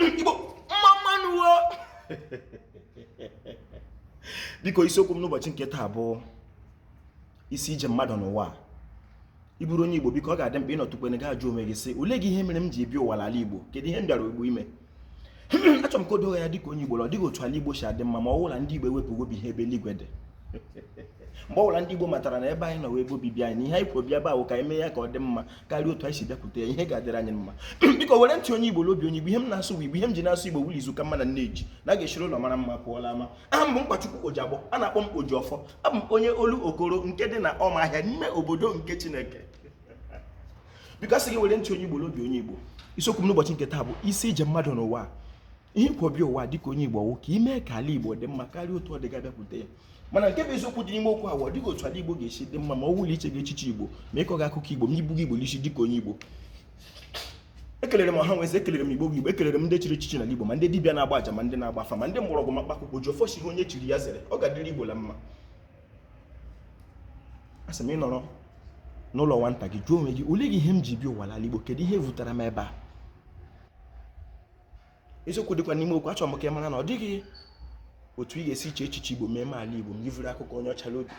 igbo mma mma nụ biko isiokwu m n'ụbọchị nke taa bụ isi ije mmadụ n'ụwa ị bụrụ onye igbo biko ọ ga-adị mkpa ịnọtụkwene gị ajụọ onwe gị sị ole gị ihe mere m ji ebi ụwa ala igbo kedu ihe m bịara igbo ime achọrọ m ka o doo ya dịka onye igbo ọ dịghị otu ala igbo si adị mma ma ọ bụ la ndị igbo ewepụ obi ha ebe eluigwe dị mgbe ọbụla ndị Igbo matara na ebe anyị nọ wụ ebe obibi anyị na ihe anyị kworo bịa bụ ka anyị mee ya ka ọ dị mma karịa otu anyị si bịakwute ya ihe ga-adịrị anyị mma biko were ntị onye igbo na obi onye igbo ihe m na-asụ igbo ihe m ji na-asụ igbo wụ la izu ka mma na nne ji na a ga-esiri ụlọ mara mma pụọ la ama aha m bụ nkwachukwu ojiagbọ a na-akpọ m oji ọfọ abụ m onye olokoro nke dị na ọmaahịa n'ime obodo nke chineke biko asị m gị were ntị onye igbo na obi onye igbo isiokwu m n'ụbọchị nke taa bụ isi ije mmadụ n'ụwa ihe i kwo bịa ụwa dịka onye igbo wụ ka i mee ka ala igbo dị mma karịa otu ọ dị gị abịakwute ya mana nke bụ eziokwu dị n'ime okwu a wụ ọ dịghị otu ala igbo ga-esi dị mma ma ọ wụ la i cheghị echiche igbo ma ị kọghị akụkọ igbo ma i bughị igbo n'isi dịka onye igbo ekelere m ọha na eze ekelere m igbo bụ igbo ekelere m ndị chiri echichi n'ala igbo ma ndị dibịa na-agba aja ma ndị na-agba afa ma ndị mgbọrọgwụ ma mkpakwụkwọ oji ọfọ sị ihe onye chiri ya zere ọ ga-adịrị igbo la mma asị m ị nọrọ n'ụlọ nwata gị jụọ onwe gị ole gị ihe m ji bịa ụwa n'ala igbo kedu ihe vutara m ebe a eziokwu dịkwa n'ime okwu achọrọ m ka ị mara na ọ dịghị otu ị ga-esi iche echiche igbo mee ala igbo ma i vuru akụkọ onye ọcha n'obi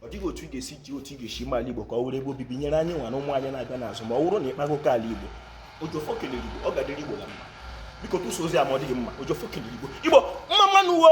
ọ dịghị otu ị ga-esi iche otu ị ga-esi mee ala igbo ka ọ wụrụ ebe obibi nyere anyị nwa na ụmụ anyị na-abịa n'azụ ma ọ wụrụ na ị kpaghị oke ala igbo oji ọfọ kelere igbo ọ ga-adịrị igbo na mma biko tụsa ozi a ma ọ dị gị mma oji ọfọ kelere igbo igbo mma mma nụ wo